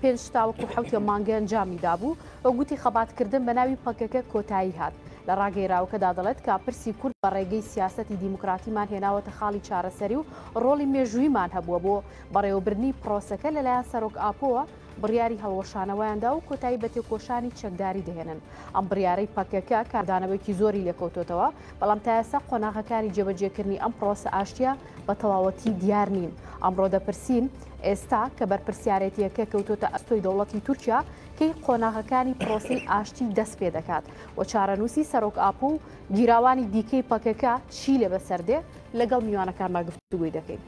پێنج تاوەکو حەوتێ مانگە ئەنجامی دابوو و گوتی خەباتکردن بە ناوی پەکەکە کۆتایی هات لە ڕاگەیراوەکەدا دەڵێت کە پرسی کورد بە ڕێگەی سیاستی دیموکراتیمان هێناوەتە خاڵی چارەسەری و ڕۆڵی مێژوویمان هەبووە بۆ بەڕێوەبردنی پرۆسەکە لەلایەن سەرۆک ئاپۆوە بڕیاری هەڵوەشانەوەیاندا و کۆتایی بە تێکۆشانی چەکداری دەهێنن ئەم بڕیارەی پەکەکە کاردانەوەیکی زۆری لێکەوتۆتەوە بەڵام تایسا قۆناغەکانی جێبەجێکردنی ئەم پرۆسە ئاشتیا بە تەواوەتی دیار نین ئەمڕۆ دەپرسین ئێستا کە بەرپرسیارێتیەکە کەوتۆتە ئەستۆی دەوڵەتی تورکیا کەی قۆناغەکانی پرۆسی ئاشتی دەست پێ دەکات و چارەنووسی سەرۆک ئاپۆ و گیراوانی دیکەی پەکەکە چی لێ بەسەردێ لەگەڵ میوانەکانمان گفتوگوی دەکەین.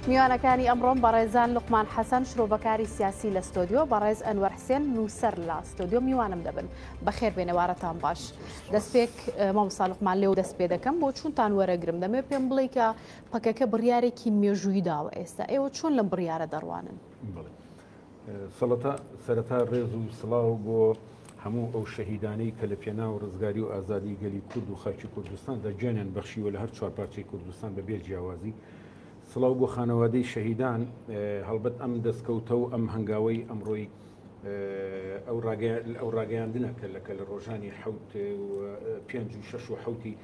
میوانەکانی ئەمڕۆم بەڕێزان لوقمان حەسەن شرۆڤەکاری سیاسی لە ستۆدیۆ بەڕێز ئەنوەر حسێن نووسەر لە ستۆدیۆ میوانم دەبن بەخێر بێنەوارەتان باش دەستپێک مامساالقمان لێو دەست پێ دەکەم بۆ چونتان وەرەگرم دەمێ پێم بڵێ کە پەکەکە بڕارێکی مێژووی داوە ئێستا ئێوە چۆن لەم بڕارە دەڕوانن؟ سەڵەتا سەرەتا ڕێز و سڵاو بۆ هەموو ئەو شەهیدانەی کە لە پێنا و ڕزگاری و ئازادی گەلی کورد و خاکی کوردستان دەگیانیان بەخشیوە لە هەر چوارپارچەی کوردستان بە بێ جیاوازی سڵاو بۆ خانەوادەی شەهیدان هەڵبەت ئەم دەستکەوتە و ئەم هەنگاوەی ئەمڕۆی ئەو ئەو ڕاگەیاندنە کە لەکە لە ڕۆژانی حوت پێنج و شش و حوتی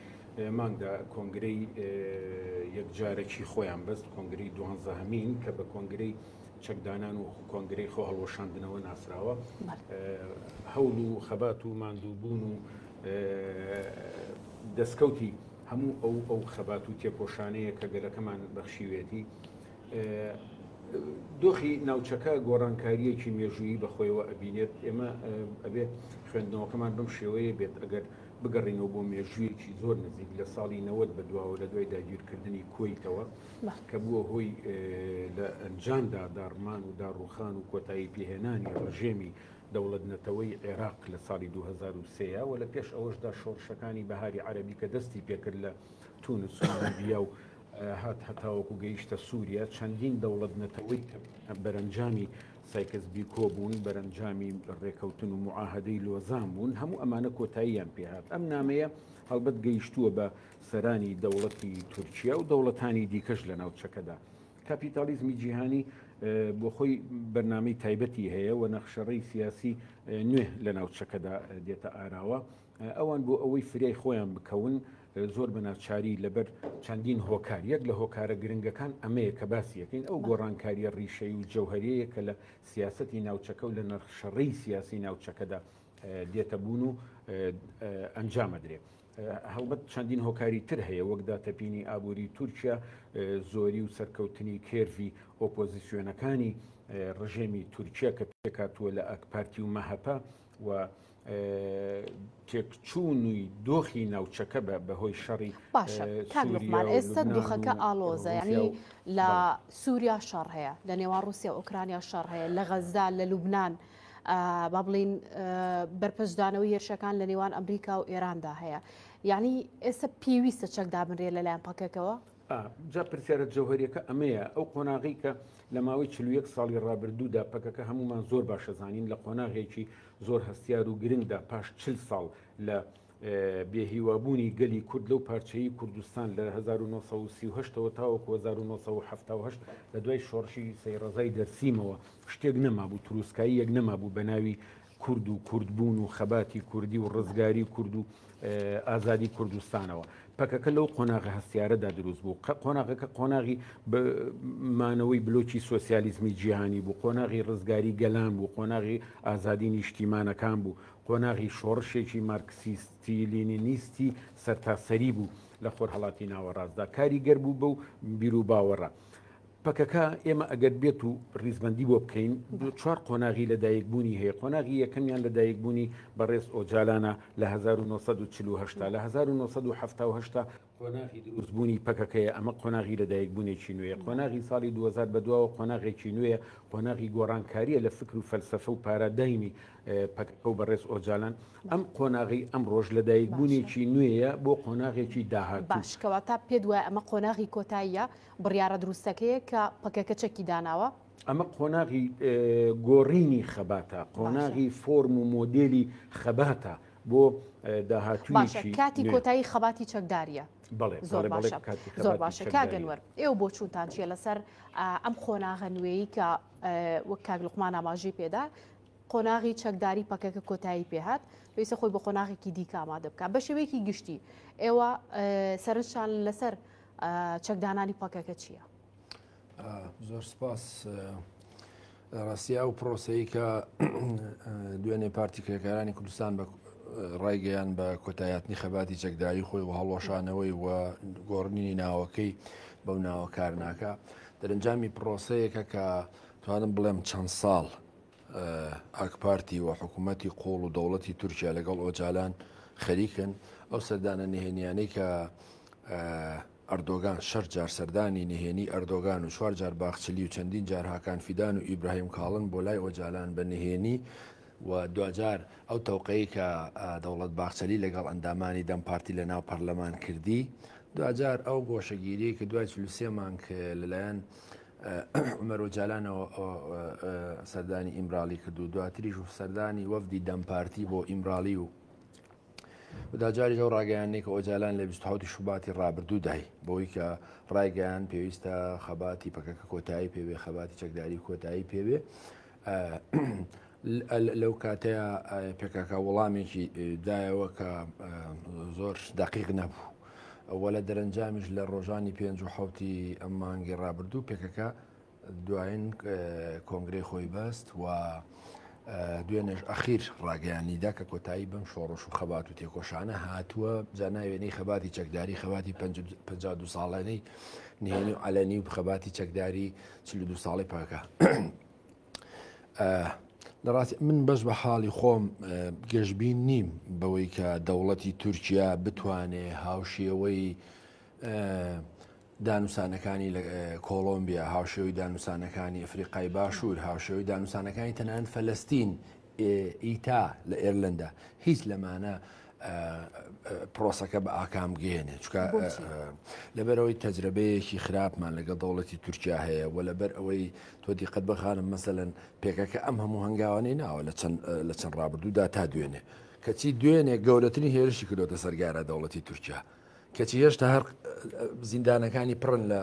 مانگدا کۆنگرەی یەکجارەکی خۆیان بەست کۆنگری دوانزەهمین کە بە کۆنگرەی چەکدانان و کۆنگرەی خۆ هەڵوەشاندنەوە ناسراوە هەوڵ و خەبات و ماندووبوون و دەستکەوتی هەموو ئەو ئەو خەبات و تێکۆشانەیە کە گەلەکەمان بەخشیوێتی دۆخی ناوچەکە گۆڕانکاریەکی مێژوویی بەخۆیەوە ئەبینێت ئێمە ئەبێت خوێندنەوەکەمان بەم شێوەیە بێت ئەگەر بگەڕینەوە بۆ مێژوویەکی زۆر نزیک لە ساڵی نەوەت بە دواوە لە دوای داگیرکردنی کویتەوە کە بووە هۆی لە ئەنجامدا داڕمان و داڕوخان و کۆتایی پێهێنانی ڕژێمی دەوڵەت نەتەوەی عێراق لە ساڵی 2023 و لە پێش ئەوەشدا شۆڕشەکانی بەهاری عەربی کە دەستی پێکرد لە تونس و لیبیا و هات هەتاوەکو گەیشتە سووریا چەندین دەوڵەت نەتەوەی کە بەرەنجامی سایکس بیکۆ بوون بەرەنجامی ڕێکەوتن و معاهدەی لۆزان بوون هەموو ئەمانە کۆتاییان پێهات ئەم نامەیە هەڵبەت گەیشتووە بە سەرانی دەوڵەتی تورکیا و دەوڵەتانی دیکەش لە ناوچەکەدا. کاپیتالیزمی جیهانی بۆ خۆی بەرنمەی تایبەتی هەیە و نەخشەڕی سیاسی نوێ لە ناوچەکەدا دێتە ئاراوە ئەوان بۆ ئەوەی فریای خۆیان بکەون زۆر بە ناچاری لەبەر چەندین هۆکار یەک لە هۆکارە گرنگەکان ئەمەیە کە باسی یەکەین ئەو گۆڕانکاریە ڕیشەی و جەوهریەیە کە لە سیاستی ناوچەکە و لە نرخشەڕی سیاسی ناوچەکەدا دێتە بوون و ئەنجامەدرێت هەڵبەت چەندین هۆکاری تر هەیە وەک داتەپینی ئابووری تورکیا زۆری و سەرکەوتنی کێرڤی ئۆپۆزیسیۆنەکانی ڕژێمی تورکیا کە پێکاتووە لە ئەک پارتی و مەهەپە و تێکچوونی دۆخی ناوچەکە بە بەهۆی شەڕی باشە کاکمان ئێستا دۆخەکە ئالۆزە ینی لە سووریا شەڕ هەیە لە نێوان رووسیا ئۆکرانیا شەڕ هەیە لە غەزدا لە لوبناان با بڵین بەرپەرچدانەوەی هێرشەکان لە نێوان ئەمریکا و ئێراندا هەیە یعنی ئێستا پێویستە چەک دابنرێت لەلایەن پەکەکەوە جا پرسیارە جەوهریەکە ئەمەیە ئەو قۆناغی کە لە ماوەی چلوەک ساڵی ڕابردوودا پەکەکە هەمومان زۆر باشەزانین لە قۆناغێکی زۆر هەستیار و گرنگدا پاش چل ساڵ لە بێ هیوابوونی گەلی کورد لەو پارچەیەی کوردستان لە هەزار و نۆ سەد و سی و هەشت ەوە تاوەکو هەزار و نۆ سەد و حەفتا و هەشت لە دوای شۆڕشی سەیڕەزای دەرسیمەوە شتێک نەمابوو تروسکاییەک نەمابوو بە ناوی کورد و کوردبوون و خەباتی کوردی و ڕزگاری کورد و ئازادی کوردستانەوە پەکەکە لەو قۆناغە هەستیارەدا دروست بوو قە قۆناغەکە قۆناغی مانەوەی بلۆکی سوسیالیزمی جیهانی بوو قۆناغی ڕزگاری گەلان بوو قۆناغی ئازادی نیشتیمانەکان بوو قۆناغی شۆڕشێکی مارکسیستی-لینینیستی سەرتاسەری بوو لە خۆرهەڵاتی ناوەڕاستدا کاریگەر بوو بەو بیروباوەڕە. پەکەکە ئێمە ئەگەر بێت و ڕیزبەندی بۆ بکەین دوو چوار قۆناغی لەدایکبوونی هەیە قۆناغی یەکەمیان لەدایکبوونی بەڕێز ئۆجالانە لە 1940 هەشتا لە 1970 هەشتا قۆناغی دروست بوونی پەکەکەیە، ئەمە قۆناغی لە دایک بوونێکی نوێیە، قۆناغی ساڵی دوو هەزار بە دواوە قۆناغێکی نوێیە، قۆناغی گۆڕانکارییە لە فکر و فەلسەفە و پارادایمی پەکەکە و بەڕێز ئۆجالان، ئەم قۆناغی ئەمڕۆش لە دایک بوونێکی نوێیە بۆ قۆناغێکی داهاتوو. باش کەواتە پێت وایە ئەمە قۆناغی کۆتاییە، بڕیارە دروستەکەیە کە پەکەکە چەکی داناوە؟ ئەمە قۆناغی گۆڕینی خەباتە، قۆناغی فۆرم و مۆدێلی خەباتە، بۆ داهاتوویەکی نوێ. باشە کاتی کۆتایی خەباتی چەکدارییە. بەڵێ زۆر باشە زۆر باشە کاک ئەنوەر ئێوە بۆچوونتان چییە لەسەر ئەم قۆناغە نوێیی کە وەک کاک لوقمان ئاماژەی پێدا قۆناغی چەکداری پەکەکە کۆتایی پێهات پێویستە خۆی بە قۆناغێکی دیکە ئامادە بکە بە شێوەیەکی گشتی ئێوە سەرنجشان لەسەر چەکدانانی پەکەکە چییە؟ زۆر سپاس ڕاستیا و پرۆسی کە دوێنێ پارتی کرێکارانی کوردستان بە ڕایگەیان بە کۆتایاتنی خەباتی چەکداری خۆی و هەڵوەشانەوەی و گۆڕنینی ناوەکەی بەو ناوە کارناکە دەرەنجامی پرۆسەیەکە کە توانم بڵێم چەند ساڵ ئاکپارتی و حکوومەتی قۆڵ و دەوڵەتی تورکیا لەگەڵ ئۆجالان خەریکن ئەو سەردانە نهێنیانەی کە ئەردۆگان شەش جار سەردانی نهێنی ئەردۆگان و چوار جار باخچلی و چەندین جار هاکان فیدان و ئیبراهیم کاڵن بۆ لای ئۆجالان بە نهێنی و دواجار ئەو تەوقەی کە دەوڵەت باخچەلی لەگەڵ ئەندامانی دەم پارتی لە ناو پەرلەمان کردی دواجار ئەو گۆشەگیری کە دوای چل و سێ مانگ لەلایەن عمر ئۆجالانەوە سەردانی ئیمراڵی کرد و دواتریش و سەردانی وەفدی دەم پارتی بۆ ئیمراڵی و داجاریش ئەو ڕاگەیاندنەی کە ئۆجالان لە 27 شوباتی ڕابردوو دای بەوەی کە ڕایگەیان پێویستە خەباتی پەکەکە کۆتایی پێوێ خەباتی چەکداری کۆتایی پێوێ لەو کاتەیە پێکاکە وەڵامێکی دایەوە کە زۆر دقیق نەبوو. وە لە دەرەنجامیش لە ڕۆژانی پێنج و حوتی ئەم مانگی ڕابردوو پێکەکە دوایین کۆنگرەی خۆی بەست و دوێنێش ئەخیر ڕاگەیانیدا کە کۆتایی بەم شۆڕش و خەبات و تێکۆشانە هاتووە جاناوێنەی خەباتی چەکداری خەباتی 52 ساڵانەی نهێنی و علەنی و خەباتی چەکداری 42 ساڵی پاکە لەڕاستی من بەش بە حاڵی خۆم گەشببین نیم بەوەی کە دەوڵەتی تورکیا بتوانێ هاوشێوەی دانوسانەکانی کۆڵۆمبیا هاوشێوەی دانوسانەکانی ئەفریقای باشوور، هاوشێوەی دانوسانەکانی تەنانەت فەلەستین، ئیتا لە ئێرلەندا هیچ لەمانە پرۆسەکە بە ئاکام گەێنێ چکە لەبەرەوەی تەجربەیەکی خراپمان لەگە دەوڵەتی تورکیا هەیە و لەبەر ئەوەی تۆ دیقەت بەخانم مەسەن پێکەکە ئەم هەموو هەنگاوانەی ناوە لە چەند ڕابردوودا تا دوێنێ کەچی دوێنێ گەورەترین هێرشی کردۆتە سەرگارە دەوڵەتی تورکیا کەچی هێشتا هەر زیندانەکانی پڕن لە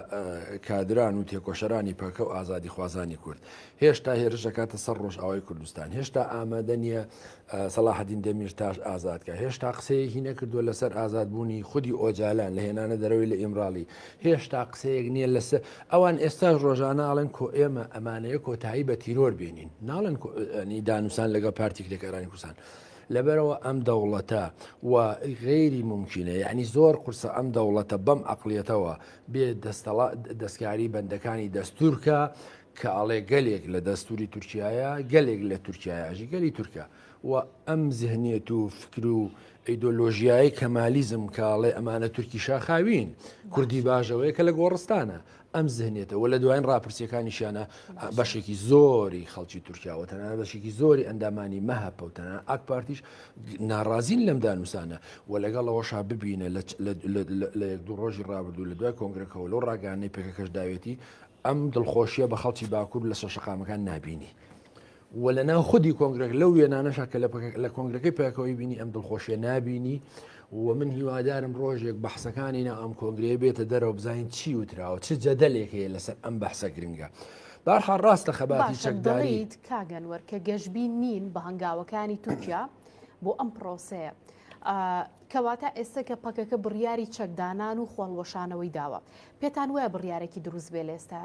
کادران و تێکۆشەرانی پەکە و ئازادی خوازانی کورد هێشتا هێرشەکاتە سەر ڕۆژئاوای کوردستان هێشتا ئامادە نییە سەلاحدین دەمیر تاش ئازادکە هێشتا قسەیەکی نەکردووە لەسەر ئازادبوونی خودی ئۆجالان لە هێنانە دەرەوەی لە ئیمراڵی هێشتا قسەیەک نییە لەسەر ئەوان ئێستاش ڕۆژانە ئاڵێن کۆ ئێمە ئەمانەیە کۆتایی بە تیرۆر بێنین ناڵێن دانوسان لەگە پارتیکلێکارانی کوردستان لەبەرئەوە ئەم دەوڵەتە و غەیری مومکینە یەعنی زۆر قورسە ئەم دەوڵەتە بەم ئەقڵیەتەوە بێ دەستەڵا دەستکاری بەندەکانی دەستور کا کە ئەڵێ گەلێک لە دەستوری تورکیایە گەلێک لە تورکیایە ژی گەلی تورکە و ئەم زهنیەت و فکر و ئەیدۆلۆژیایی کەمالیزم کاڵێ ئەمانە تورکی شاخاوین کوردی باژەوەیە کە لە گۆڕستانە ئەم زهنیەتە وە لە دوایین ڕاپرسیەکانیشیانە بەشێکی زۆری خەڵکی تورکیا وە تەنانەت بەشێکی زۆری ئەندامانی مەهەپە و تەنانەت ئاک پارتیش ناڕازین لەم دانووسانە وە لەگەڵ ئەوەشا ببینە لە یەک دوو ڕۆژی ڕابردوو لە دوای کۆنگرەکەەوە لەو ڕاگەیاندنەی پێکەکەش داوێتی ئەم دڵخۆشیە بە خەڵکی باکوور لەسەر شەقامەکان نابینی. وە لە ناو خودی کۆنگرەک لەو وێنانەشە کە لە کۆنگرەکەی پێکەوەی بینی ئەم دڵخۆشیە نبینی و من هیوادارم ڕۆژێک بەحسەکانی ناو ئەم کۆنگرەیە بێتە دەرەوە بزانین چی وتراوە چ جەدەلێک هەیە لەسەر ئەم بەحسە گرنگە. بارحا ڕاستە خەباتی چەکداریت کاگەنوەر کە گەشببی نین بە هەنگاوەکانی تورکیا بۆ ئەم پرۆسەیە. کەواتە ئێستا کە پەکەکە بڕیاری چەکدانان و خۆڵوەشانەوەی داوە پێتان وایە بڕیارێکی دروست بێ لێستە؟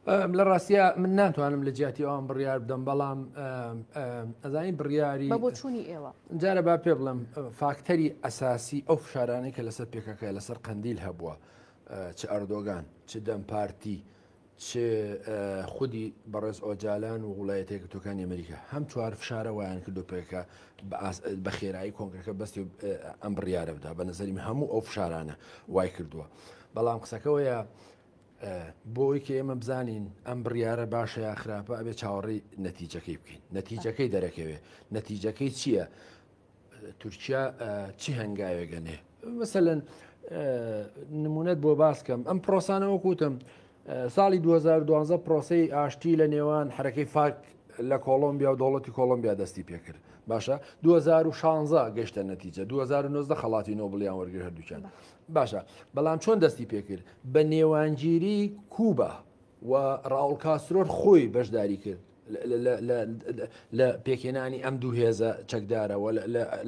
لە ڕاستە من ناتوانم لە جیاتی ئەوان بڕیار بدەم بەڵام ئەزانی بڕیاری بۆچوونی ئێوە جارە با پێ بڵم فاکتەری ئەساسی ئەو فشارانەی کە لەسەر پێکەکە لەسەر قندیل هەبووە چ ئەردۆگان چ دەم پارتی چ خودی بەڕێز ئۆجالان و وڵایەتێک تۆکانی ئەمریکا هەم چوار فشارە وایان کردو پێکە بە خێرایی کۆنگەکە بەستی ئەم بڕیاە بدا بە نظریم هەموو ئەو فشارانە وای کردووە بەڵام قسەکەەوەیە بۆ ئەوەی کە ئێمە بزانین ئەم بڕیارە باشە یا خراپە ئەبێ چاوەڕێی نەتیجەکەی بکەین نەتیجەکەی دەرەکەوێ نەتیجەکەی چییە؟ تورکیا چی هەنگاوێگەنێ مەسەەن نمونەت بۆ باسکەم ئەم پرۆسانەوە کوتم ساڵی 2012 پرۆسی ئاشتی لە نێوان حرەکەی فاک لە کۆڵمبیا و دەوڵەتی کۆڵمبیا دەستی پێکرد باشە 2016 گەشتە نەتیجە 2009 خەڵاتی نۆبلیان وەرگر هەردووچان باشە بەڵام چۆن دەستی پێکرد بە نێوانگیری کوبا و ڕاول کاسرۆر خۆی بەشداری کرد لە پێکێنانی ئەم دوو هێزە چەکدارەوە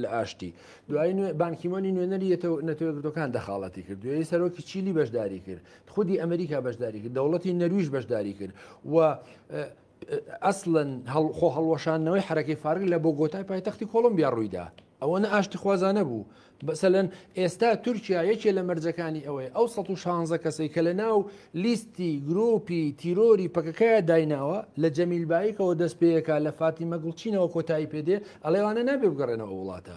لە ئاشتی دوای بانکیمۆنی نوێنەری نەتەوەگرتوەکان دەخاڵەتی کرد دوێی سەرۆکی چیلی بەشداری کرد خودی ئەمریکا بەشداری کرد دەوڵەتی نەرویش بەشداری کرد و ئەسڵەن خۆ هەڵوەشاندنەوەی حرەکەی فارگ لە بۆ گۆتای پایتەختی کۆڵمبیا ڕوویدا ئەوەنە ئاشتی خوازانە بوو بەسەلەن ئێستا تورکیا یەکێ لە مەرجەکانی ئەوەیە ئەو 16 کەسەی کە لە ناو لیستی گرۆپی تیرۆری پەکەکەیە دایناوە لە جەمیل بایکەوە دەست پێیەکە لە فاتیمە گوڵچینەوە کۆتایی پێدێ ئەڵێوانە نابێ بگەڕێنەوە وڵاتە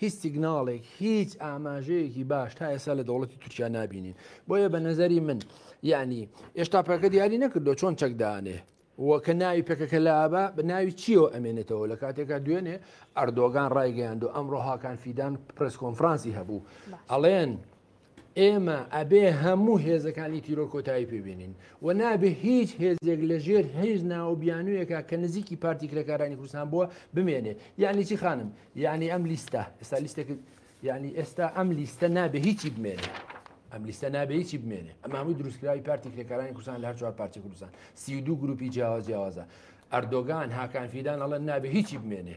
هیچ سیگناڵێک، هیچ ئاماژەیەکی باش تا ئێستا لە دەوڵەتی تورکیا نابینین. بۆیە بە نەزەری من یعنی ئێشتا پەکەکە دیاری نەکردو چۆن چەک دانێ. و کە ناوی پێکەکە لابە بە ناوی چیەوە ئەمێنێتەوە لە کاتێکا دوێنێ ئەردۆگان ڕایگەیاندو ئەمڕۆ هاکان فیدان پرس کۆنفرانسی هەبوو ئەڵێن ئێمە ئەبێ هەموو هێزەکانی تیرۆر کۆتایی پێبێنین و نابێ هیچ هێزێک لە ژێر هێز ناو بیانوویەکە کە نزیکی پارتی کرێکارانی کوردستان بووە بمێنێ یعنی چی خانم یعنی ئەم لیستە ئێستا لیستێک یعنی ئێستا ئەم لیستە نابێ هیچی بمێنێ ئەم لیستە نابێ هیچی بمێنێ ئەمە هەمووی دروستکراوی پارتی کرێکارانی کوردستان لە هەر چوار پارتی کوردستان سی دوو گروپی جیاواز جیاوازە ئەردۆگان هاکان فیدان ئەڵێن نابێ هیچی بمێنێ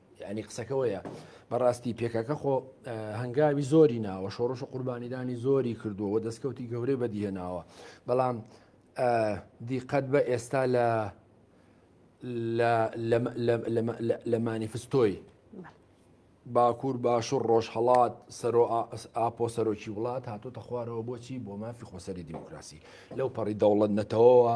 یعنی قسەکە وەیە بەڕاستی پێکەکە خۆ هەنگاوی زۆری ناوە شۆڕش و قوربانیدانی زۆری کردووەوە دەستکەوتی گەورەی بەدیهێناوە بەڵام دیقەت بە ئێستا لە لە مانیفستۆی باکوور باشوور ڕۆژهڵات سەرۆ ئاپۆ سەرۆکی وڵات هاتۆتە خوارەوە بۆچی بۆ مافی خۆسەری دیموکراسی لەو پەڕی دەوڵەت نەتەوەەوە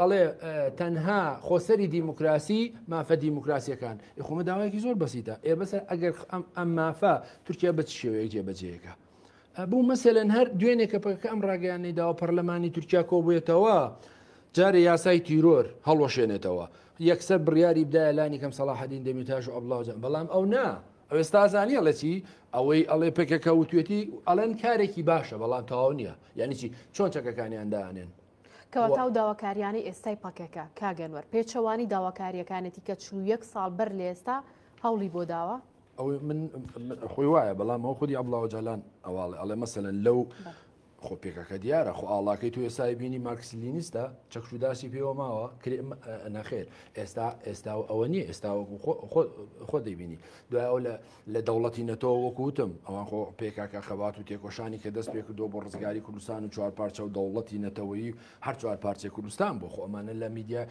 ئەڵێ تەنها خۆسەری دیموکراسی مافە دیموکراسیەکان یخۆمە داوایەکی زۆر بەسیتە ئێ بەسە ئەگەر ئەم مافە تورکیا بە شێوەیە جێبەجێەکە بوو مەسەلەن هەر دوێنێ کە پەکە ئەم ڕاگەیانەی داوە پەرلەمانی تورکیا کۆبێتەوە جارێ یاسای تیرۆر هەڵۆشێنێتەوە یەکسەر بڕیاری بدایە لانی کەم سەڵاحدین دەمیتاش و ئەبلاوجان بەڵام ئەو نا ئەوێستا زانانی ئەڵەچی ئەوەی ئەڵێ پێکەکە وتێتی ئەڵەن کارێکی باشە بەڵام تاو نییە یعنی چی چۆن چەکەکانیان دانێن کەواتاو داواکاریانەی ئێستای پەکەکە کاگەنوەر پێچەوانی داواکاریەکانێتی کە چلو یەک ساڵ بەر لە ئێستا هەوڵی بۆ داوە ئەو من خۆی وایە بەڵام ئەو خودی ئەبلاوە جالان ئەواڵێ ئەڵێ مەسەن لەو خۆ پێکەکە دیارە خۆ ئاڵاکەی تو ئێستای بینی مارکسلینیستە چەکشوداسی پێوە ماوە کرێ نەخێر ئێستا ئێستا و ئەوە نیە ئێستا خۆ دەبینی دوای ئەو لە لە دەوڵەتی نەتەوە وەکو وتم ئەوان خۆ پێکاکە خەبات و تێکۆشانی کە دەست پێکردو بۆ ڕزگاری کوردستان و چوار پارچە و دەوڵەتی نەتەوەیی هەر چوار پارچەی کوردستان بۆ خۆ ئەمانە لە میدیا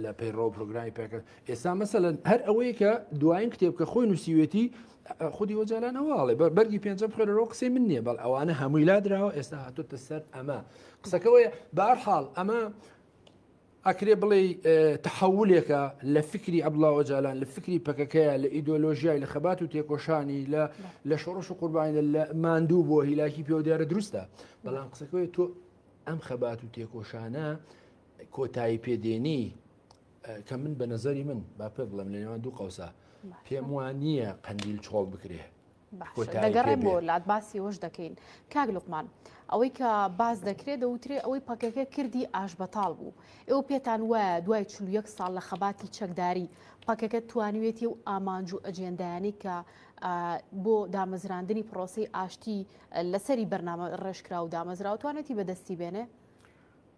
لە پەیڕەوە پرۆگرامی پێکرد ئێستا مەسەلەن هەر ئەوەیە کە دوایین کتێب کە خۆی نووسیوێتی خودی وەجالان ئەوواڵێ بە بەرگی پێنجە بخێرەوە قسەی من نییە بەڵ ئەوانە هەمووی لا دراوە ئێستا هاتوتە سەر ئەمە قسەکەەوەی بارحاڵ ئەمە ئەکرێ بڵێی تەحەولێکە لە فکری عەبدوڵا ئۆجالان، لە فکری پەکەکەیە، لە ئیدۆلۆژیای، لە خەبات و تێکۆشانی، لە شۆڕش و قوربانیدا لە ماندوو بووە هیلاکی پێوە دیارە دروستە، بەڵام قسەکەوەی تۆ ئەم خەبات و تێکۆشانە کۆتایی پێدێنی کە من بە نەزەری من با پێ بڵێم لە نێوان دوو قەوسە پێم وان نییە قەندیل چۆڵ بکرێ دەگەڕێ بۆ لات باسی وەش دەکەین کاک لوقمان ئەوەی کە باز دەکرێت دەوترێ ئەوەی پەکەکە کردی ئاش بەتاڵ بوو ئێوە پێتان وایە دوای چ یەک ساڵ لە خەباتی چەکداری پەکەکە توانوێتی و ئامانج و ئەجێندایانی کە بۆ دامەزراندنی پرۆسی ئاشتی لەسەری بەرنامە ڕێژکرا و دامەزراوتوانێتی بەدەستی بێنێ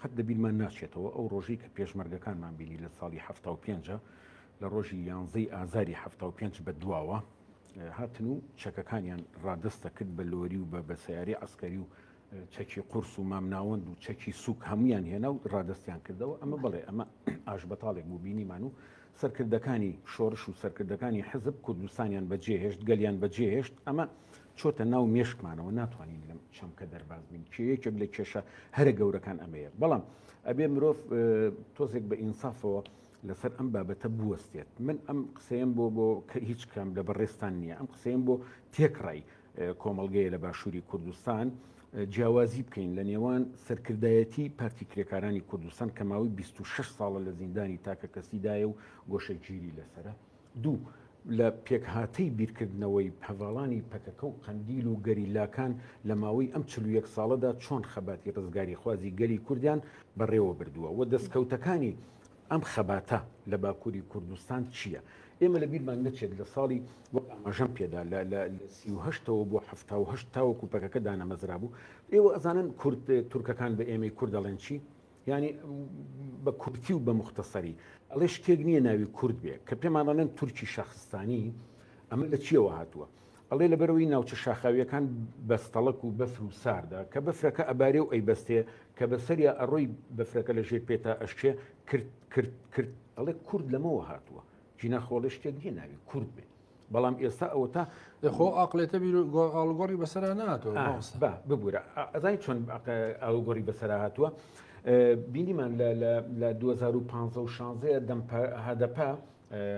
قەت لە بیرمان ناچێتەوە ئەو ڕۆژەی کە پێشمەرگەکانمان بینی لە ساڵی حەفتا و پێنج لە ڕۆژی یانزەی ئازاری حەفتا و پێنج بە دواوە هاتن و چەکەکانیان ڕادستە کرد بە لۆری و بە بە سیارەی عسکەری و چەکی قورس و مامناوەند و چەکی سوک هەمویان هێنا و ڕادستیان کردەوە ئەمە بڵێ ئەمە ئاش بەتاڵێک بوو بینیمان و سەرکردەکانی شۆرش و سەرکردەکانی حزب کوردستانیان بەجێهێشت گەلیان بەجێهێشت ئەمە چۆتە ناو مێشکمانەوە ناتوانین لەم چەمکە دەرباز بین کێ یەکێک لە کێشە هەرە گەورەکان ئەمەیە بەڵام ئەبێ مرۆڤ تۆزێک بە ئینسافەوە لەسەر ئەم بابەتە بوەستێت من ئەم قسەیەم بۆ بۆ کە هیچ کام لە بەڕێستان نییە ئەم قسەیەم بۆ تێکڕای کۆمەلگەیە لە باشووری کوردستان جیاوازی بکەین لە نێوان سەرکردایەتی پارتی کرێکارانی کوردستان کە ماوەی 26 ساڵە لە زیندانی تاکە کەسیدایە و گۆشەگیری لەسرە دوو، لە پێکهاتەی بیرکردنەوەی هەڤاڵانی پەکەکە و قەندیل و گەریلاکان لە ماوەی ئەم چل و یەک ساڵەدا چۆن خەباتی ڕزگاریخوازی گەلی کوردیان بەڕێوە بردووە و دەستکەوتەکانی ئەم خەباتە لە باکووری کوردستان چییە؟ ئێمە لە بیرمان نەچێت لە ساڵی وەک ئاماژەم پێدا لە لە سی و هەشت ەوە بۆ حەفتا و هەشت تاوەکو پەکەکە دانەمەزرابوو، ئێوە ئەزانن کورد تورکەکان بە ئێمەی کورد دەڵێن چی؟ یانی بە کورتی و بە موختەسەری ئەڵێ شتێک نییە ناوی کورد بێ کە پێمان ئەڵێن تورکی شەخستانی ئەمە لە چیەوە هاتووە ئەڵێ لە بەرەوەی ناوچە شاخاویەکان بەستەڵک و بەفر و ساردە کە بەفرەکە ئەبارێ و ئەی بەستێ کە بەسەریا ئەڕۆی بەفرەکە لە ژێر پێتا ئەشکێ کرد کرد کرد ئەڵێ کورد لەمەوە هاتووە جینا خۆڵێ شتێک نیە ناوی کورد بێت بەڵام ئێستا ئەوتا خۆ ئاقلێتە بیر ئاڵگۆڕی بەسرا ناتۆ ببوورە ئەزای چۆن ئاڵگۆڕی بەسرا هاتووە بینیمان لە 2015 و 16 دەم هەدەپە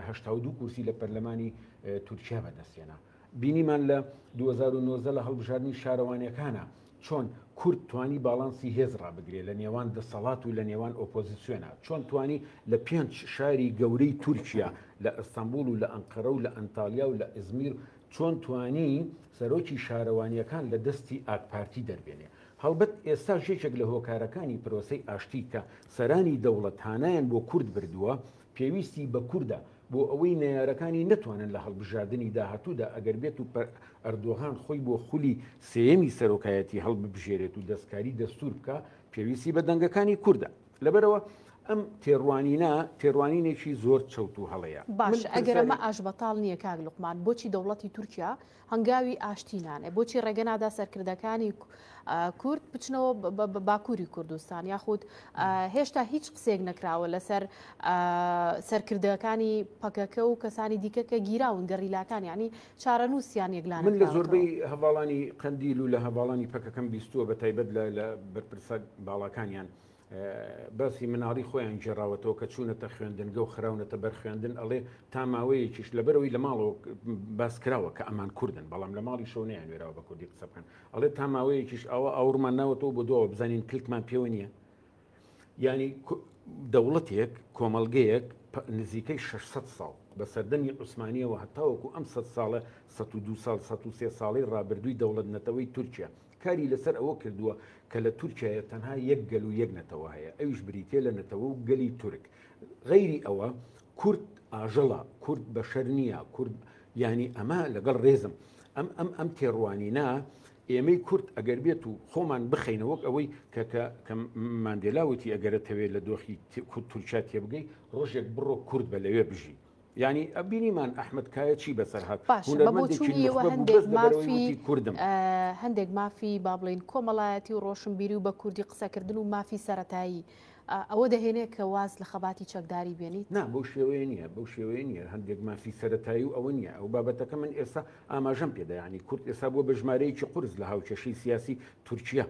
هشتا دو کورسی لە پەرلەمانی تورکیا بەدەستێنا بینیمان لە 2009 لە هەڵبژاردننی شارەوانەکانە چۆن کورد توانی باڵانسی هێز ڕابگرێ لە نێوان دەسەڵات و لە نێوان ئۆپۆزیسیۆنا؟ چۆن توانی لە پێنج شاری گەورەی تورکیا لە ئەستەنبوڵ و لە ئەنقەرە و لە ئەنتاڵیا و لە ئیزمیر چۆن توانی سەرۆکی شارەوانییەکان لە دەستی ئاکپارتی دەربێنێ؟ هەڵبەت ئێستاش یەکێک لە هۆکارەکانی پرۆسەی ئاشتی کە سەرانی دەوڵەت هانایان بۆ کورد بردووە، پێویستی بە کوردە بۆ ئەوەی نەیارەکانی نەتوانن لە هەڵبژاردنی داهاتوودا ئەگەر بێت و ئەردۆغان خۆی بۆ خولی سێیەمی سەرۆکایەتی هەڵببژێرێت و دەستکاری دەستور بکە پێویستی بە دەنگەکانی کووردە لەبەرەوە ئەم تێڕوانینە تێڕوانینێکی زۆر چەوت و هەڵەیە باش ئەگەرمە ئاش بەتاڵ نییە کاک لوقمان بۆچی دەوڵەتی تورکیا هەنگاوی ئاشتی نانێ بۆچی ڕێگە نادا سەرکردەکانی کورد بچنەوە باکووری کوردستان یاخود هێشتا هیچ قسێک نەکراوە لەسەر سەرکردەکانی پەکەکە و کەسانی دیکە کە گیراون گەڕیلاکان ینی چارەنووسیان یەکلان من لە زۆربەی هەواڵانی قندیل و لە هەواڵانی پەکەکەم بیستووە بە تایبەت لە بەرپرسە باڵاکانیان باسی مناڵی خۆیان گێڕاوەتەوە کە چوونەتە خوێندنگە و خراونەتە بەر خوێندن ئەڵێ تا ماوەیەکیش لەبەرەوەی لە ماڵەوە باس کراوە کە ئەمان کوردن بەڵام لە ماڵی شەو نیان وێراوە بە کوردی قسە بکەن ئەڵێ تا ماوەیەکیش ئەوە ئاورمان ناوەتەوە بۆ دووە بزانین کلکمان پێوە نییە ینی دەوڵەتێک کۆمەلگەیەک نزیکەی 600 ساڵ بە سەردەمی عوسمانیەوە هەتاوەکو ئەم سە ساڵە 1 ساڵ 1 ساڵی ڕابردووی دەوڵەت نەتەوەی تورکیا کاری لەسەر ئەوە کردووە کە لە تورکیایە تەنها یەک گەل و یەک نەتەوە هەیە، ئەویش بریتییە لە نەتەوە و گەلی تورک. غەیری ئەوە، کورد ئاژەڵە، کورد بەشەر نییە، کورد یانی ئەمە، لەگەڵ ڕێزم، ئەم ئەم ئەم تێڕوانینە ئێمەی کورد ئەگەر بێت و خۆمان بخەینە وەک ئەوەی کە کە کە ماندێلا وتی ئەگەرەتەوێ لە دۆخی تورکیا تێبگەی، ڕۆژێک بڕۆ کورد بە لەوێ بژی. یانی ئە بینیمان ئەحمد کایە چی بەسەر هات باشە بە بۆچوونی ئێوە هەندێک مافی کوردم هەندێک مافی با بڵین کۆمەڵایەتی و ڕۆشنبیری و بە کوردی قسەکردن و مافی سەتایی ئەوە دەهێنێ کە واز لە خەباتی چەکداری بێنیت نا بەو شێوەیە نییە بەو شێوەیە نییە هەندێک مافی سەتایی و ئەوە نییە ئەو بابەتەکە من ئێستا ئاماژەم پێدایانی کورد ئێستا بۆ بەژمارەیەکی قرس لە هاوکێشی سیاسی تورکیا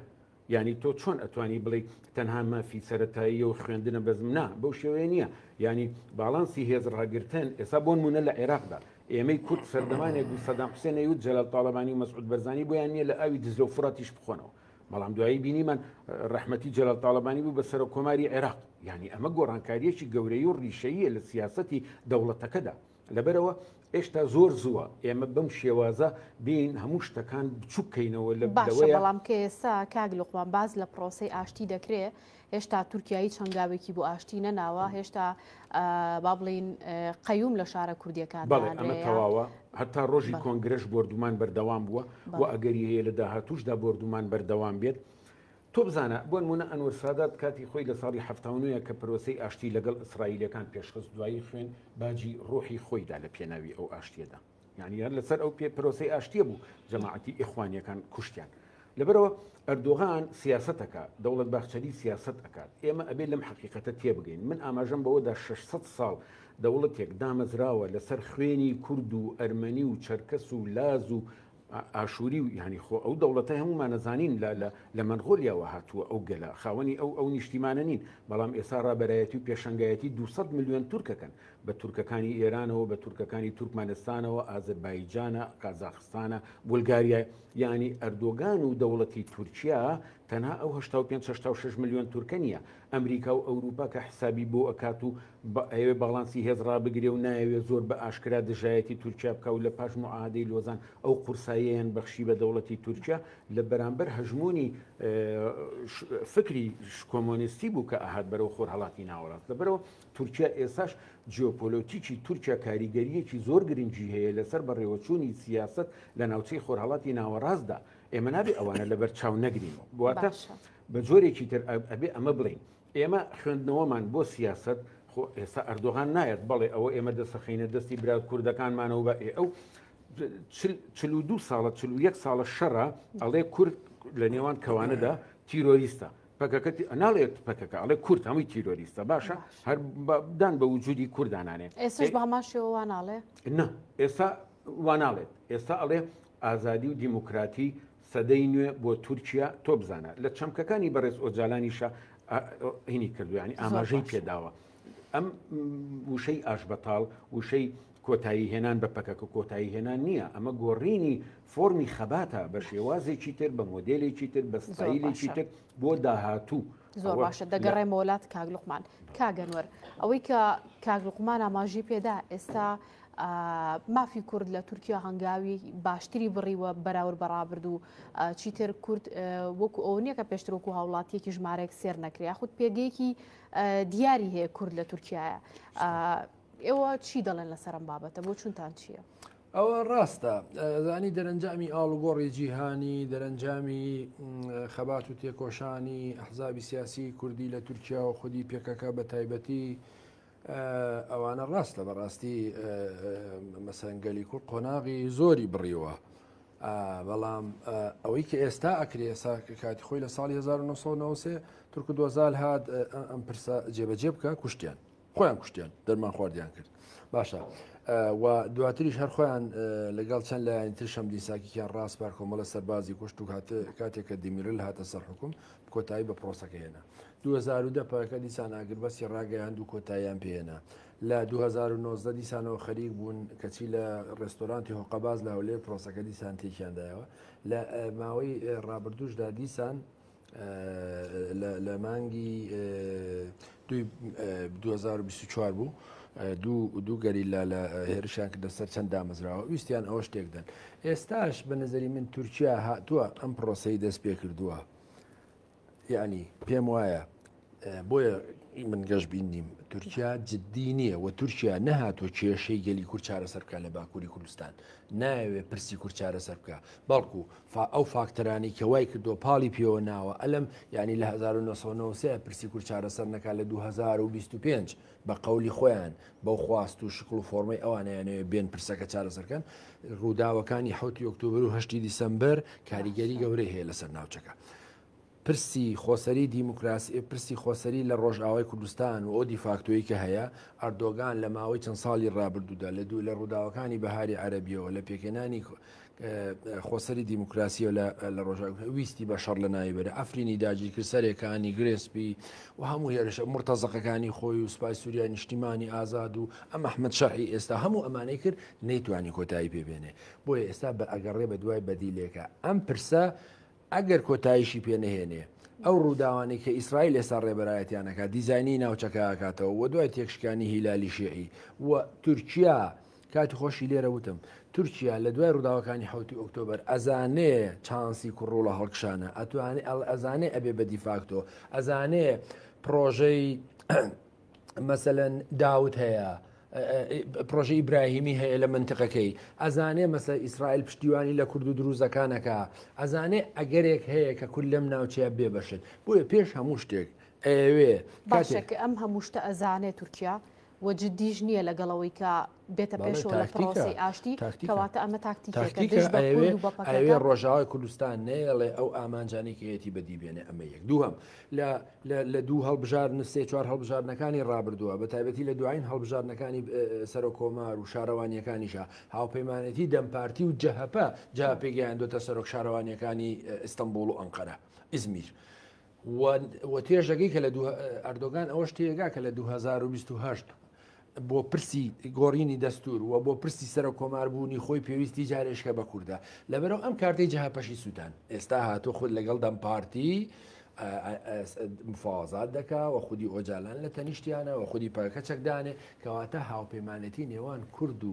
یانی تۆ چۆن ئەتوانی بڵێی تەنها مافی سەرەتاییە و خوێندنە بەزم نا بەو شێوەیە نییە یانی باڵانسی هێز ڕاگرتن ئێستا بۆ نمونە لە عێراقدا ئێمەی کورد سەردەمانێک بوو سەدام حسێن نەیوت جەلال تاڵەبانی و مەسعود بەرزانی بۆیان نییە لە ئاوی دجلە و فوڕاتیش بخۆنەوە بەڵام دوایی بینیمان ڕەحمەتی جەلال تاڵەبانی بوو بە سەرۆک کۆماری عێراق یانی ئەمە گۆڕانکارییەکی گەورەی و ڕیشەییە لە سیاسەتی دەوڵەتەکەدا لەبەرئەوە ئێشتا زۆر زووە ئێمە بەم شێوازە بین هەموو شتەکان بچوک کەینەوە لە باشە بەڵام کە ئێستا کاک لوقمان باز لە پرۆسی ئاشتی دەکرێ هێشتا تورکایی چەنگاوێکی بۆ ئاشتی نەناوە هێشتا با بڵین قەیوم لە شارە کوردیەکان ئەمە تەواوە هەتا ڕۆژی کۆنگرش بردومان بەردەوام بووە و ئەگەری هەیە لە داهاتوشدا بردومان بەردەوام بێت تۆ بزانە، بۆنموونە ئەنوەر سادات کاتی خۆی لە ساڵی حەفتا و نۆ ە کە پرۆسەی ئاشتی لەگەڵ ئیسرائیلەکان پێشخست دوایی خوێن باجی ڕوحی خۆی دا لە پێناوی ئەو ئاشتیەدا یانی هەر لەسەر ئەو پێ پرۆسەی ئاشتیە بوو جەماعەتی ئیخوانیەکان کوشتیان لەبەرەوە ئەردۆغان سیاسەتەکە دەوڵەت باخچەلی سیاسەت ئەکات ئێمە ئەبێ لەم حەقیقەتە تێبگەین من ئاماژەم بەوەدا 600 ساڵ دەوڵەتێک دامەزراوە لەسەر خوێنی کورد و ئەرمەنی و چەرکەس و لاز و ئاشوری و یانی خۆ ئەو دەوڵەتە هەمومانەزانین لە مەنغۆلیاوە هاتووە ئەو گەلە خاوەنی ئەو ئەو نیشتیمانە نین بەڵام ئێسا ڕابەرایەتی و پێشنگایەتی 200 میلیۆن تورکەکەن بە تورکەکانی ئێرانەوە بە تورکەکانی تورکمانستانەوە ئازربایجانە قازاخستانە بولگاریای ینی ئەردۆگان و دەوڵەتی تورکیا تەنها ئەو 5 6 میلیۆن تورکە نیە ئەمریکا و ئەوروپا کە حسابی بۆ ئەکات و با ئەیەوێ باڵانسی هێز ڕابگرێ و نایەوێ زۆر بە ئاشکرا دژایەتی تورکیا بکا و لە پاش موعاهەدەی لۆزان ئەو قورساییەیان بەخشی بە دەوڵەتی تورکیا لە بەرامبەر هەژموونی فکری کۆمۆنیستی بوو کە ئەهات بەرەو خۆرهەڵاتی ناوەڕاست لەبەرەوە تورکیا ئێساش جیۆپۆلۆتیکی تورکیا کاریگەریەکی زۆر گرنگی هەیە لەسەر بەڕێوەچوونی سیاست لە ناوچەی خۆرهەڵاتی ناوەڕاستدا ئێمە نابێ ئەوانە لەبەر چاو نەگرین واتە بە جۆرێکی تر ئەبێ ئەمە بڵین ئێمە خوێندنەوەمان بۆ سیاسەت خۆ ئێستا ئەردۆغان نایەت بەڵێ ئەوە ئێمە دەسەخینە دەستی برا کوردەکانمانەوە بە ئێ ئەو چلو دو ساڵە چلو یەک ساڵە شەڕە ئەڵێ کورد لە نێوان کەوانەدا تیرۆریستە پەکەکەتی ئەناڵێت پەکەکە ئەڵێ کورد هەمووی تیرۆریستە باشە هەر دان بە وجودی کوردانانێ ئێسش باماشەوە واناڵێ نه ئێستا واناڵێت ئێستا ئەڵێ ئازادی و دیموکراتی سەدەی نوێ بۆ تورکیا تۆ بزانە لە چەمکەکانی بەڕێز ئۆجالانیشە هینی کردویانی ئاماژەی پێداوە ئەم وشەی ئاش بەتاڵ وشەی کۆتایی هێنان بە پەکەکە کۆتایی هێنان نییە ئەمە گۆڕینی فۆمی خەباتە بە شێوازێکی تر بە مۆدلێکی تر بە ستایلێکی تر بۆ داهاتوو زۆر باشە دەگەڕێ مۆلات کاگلوقمان کاگەنوەر ئەوەی کە کاگلوقمان ئاماژی پێدا ئێستا مافی کورد لە تورکیا هەنگاوی باشتری بڕیوە بەراورد بە ڕابردوو چیتر کورد وەکو ئەو نییە کە پێشتر وەکو هاوڵاتیەکی ژمارەێک سێر نەکرێ خود پێگەیەکی دیاری هەیە کورد لە تورکایە ئێوە چی دەڵێن لە سەرم بابەتە بۆ چونتان چییە؟ ئەوە ڕاستە زانی دەرەنجامی ئاڵوگۆڕی جیهانی دەرەنجامی خەبات و تێکۆشانی حزابی سیاسی کوردی لە تورکیا و خودی پێکەکە بە تایبەتی ئەوانە ڕاستە بەڕاستی مەسەن گەلی کورد قۆناغی زۆری بڕیوە بەڵام ئەوەی کە ئێستا ئەکرێ ئێسا کاتی خۆی لە ساڵی 1990 تورک دۆزال هاات ئەم پرسە جێبەجێ بکە کوشتیان خۆیان کوشتیان دەرمان خواردیان کرد باشە و دواتریش هەر خۆیان لەگەڵ چەند لایەن تر شەم دیساکییان ڕاست پار کۆمەڵە سەربازی کوشت و کاتێک کە دیمیرل هاتە سەر حکوم کۆتایی بە پرۆسەکە هێنا دوو هەزار و دە پەکەکە دیسان ئاگربەستی ڕاگەیاند و کۆتاییان پێ هێنا. لە دوو هەزار و نۆزدە دیسانەوە خەریک بوون، کەچی لە ڕێستۆرانتی هۆقەباز لە هەولێر پرۆسەکە دیسان تێکیان دایەوە. لە ماوەی ڕابردووشدا دیسان لە مانگی دووی دوو هەزار و بیست و چوار بوو، دوو گەریلا لە هێرشیان کردە سەر چەند دامەزراوە، ویستیان ئەوەش تێک دەن. ئێستاش بە نەزەری من تورکیا هاتووە ئەم پرۆسەی دەست پێ کردووە. یعنی پێم وایە بۆیە من گەشببین نیم تورکیا جددی نییە و تورکیا نەهاتۆ کێشەی گەلی کورد چارەسەر بکە لە باکووری کوردستان ناوێ پرسی کورد چارەسەر بکە بەڵکو ئەو فاکتەرانی کە وای کردو پاڵی پێوە ناوە ئەلم ینی لە 1990 پرسی کورد چارەسەر نەکە لە 2025 بە قەولی خۆیان بەو خواست و شکڵ و فۆرمەی ئەوانەیانەوێ بێن پرسەکە چارەسەرکەن. ڕووداوەکانی حەوتی ئۆکتۆبەر و هەشتی دیسەمبەر کاریگەری گەورەی هەیە لەسەر ناوچەکە. پرسی خۆسەری دیموکراسی پرسی خۆسەری لە ڕۆژئاوای کوردستان و ئەو دیفاکتۆی کە هەیە ئەردۆگان لە ماوەی چەند ساڵی ڕابردوودا لە دوو لە ڕووداوەکانی بەهاری عەرەبیەوە لە پێکهێنانی خۆسەری دیموکراسییە لە لە ڕۆژاو ویستی بە شەڕ لە ناوی بەرە ئەفرینی داگیرکرد سەرێکانی گرێسپی و هەموو هێرشە مرتەزەقەکانی خۆی و سوپای سووریا نیشتیمانی ئازاد و ئەم ئەحمد شەرعی ئێستا هەموو ئەمانەی کرد نەیتوانی کۆتایی پێبێنێ بۆیە ئێستا بە ئەگەڕێ بە دوای بەدیلێکە ئەم پرسە ئەگەر کۆتاییشی پێ نەهێنێ، ئەو ڕووداوانەی کە ئیسرائیل ئێستا ڕێبەرایەتیان ئەکات، دیزاینی ناوچەکە ئەکاتەوە و دوای تێکشکانی هیلالی شیعی و تورکیا، کاتی خۆشی لێرە وتم، تورکیا لە دوای ڕووداوەکانی حەوتی ئۆکتۆبەر ئەزانێ چانسی کوڕوڵە هەڵکشانە، ئەتوانێ ئەزانێ ئەبێ بە دیفاکتۆ، ئەزانێ پڕۆژەی مەسەەن داوت هەیە پرۆژە ئیبراهیمی هەیە لە منتقەکەی ئەزانێ مەسە ئیسرائیل پشتیوانی لە کورد و دروزەکانەکە ئەزانێ ئەگەرێک هەیە کە کول لەم ناوچەیە بێ بەشت بۆیە پێش هەموو شتێک ئەوێ باشەکە ئەم هەموو شتە ئەزانێ تورکیا وەجددیش نییە لەگەڵەوەی کە بێتە پێشەوە لە پرۆسی ئاشتی کەواتە ئەمە تاکتیکەوێ ڕۆژاوای کوردستان نەیەڵێ ئەو ئامانجانێکیەتی بەدی بێنێ ئەمە یەک دووهم لە دوو هەڵبژار نسێ چوار هەڵبژارنەکانی ڕابردووە بە تایبەتی لە دوایین هەڵبژارنەکانی سەرۆ کۆمار و شارەوانیەکانیشە هاوپەیمانەتی دەمپارتی و جەهپە جا پێگەیاندوتە سەرۆک شارەوانیەکانی ئستنبول و ئەنقەرە ئزمیر. وتێژەکەی کە لە ئەردۆگان ئەوەش تێگا کە لە 2028 بۆ پرسی گۆڕینی دەستور و بۆ پرسی سەر کۆماربوونی خۆی پێویستی جارێشکە بە کووردا لەبەرەوە ئەم کارتی جهپەشی سووتان ئێستا هاتو خود لەگەڵ دەم پارتی مفاوازات دەکا و خودی ئۆجالان لە تەنیشتیانە و خودی پاکە چەکدانێ کەواتە هاوپەیمانەتی نێوان کورد و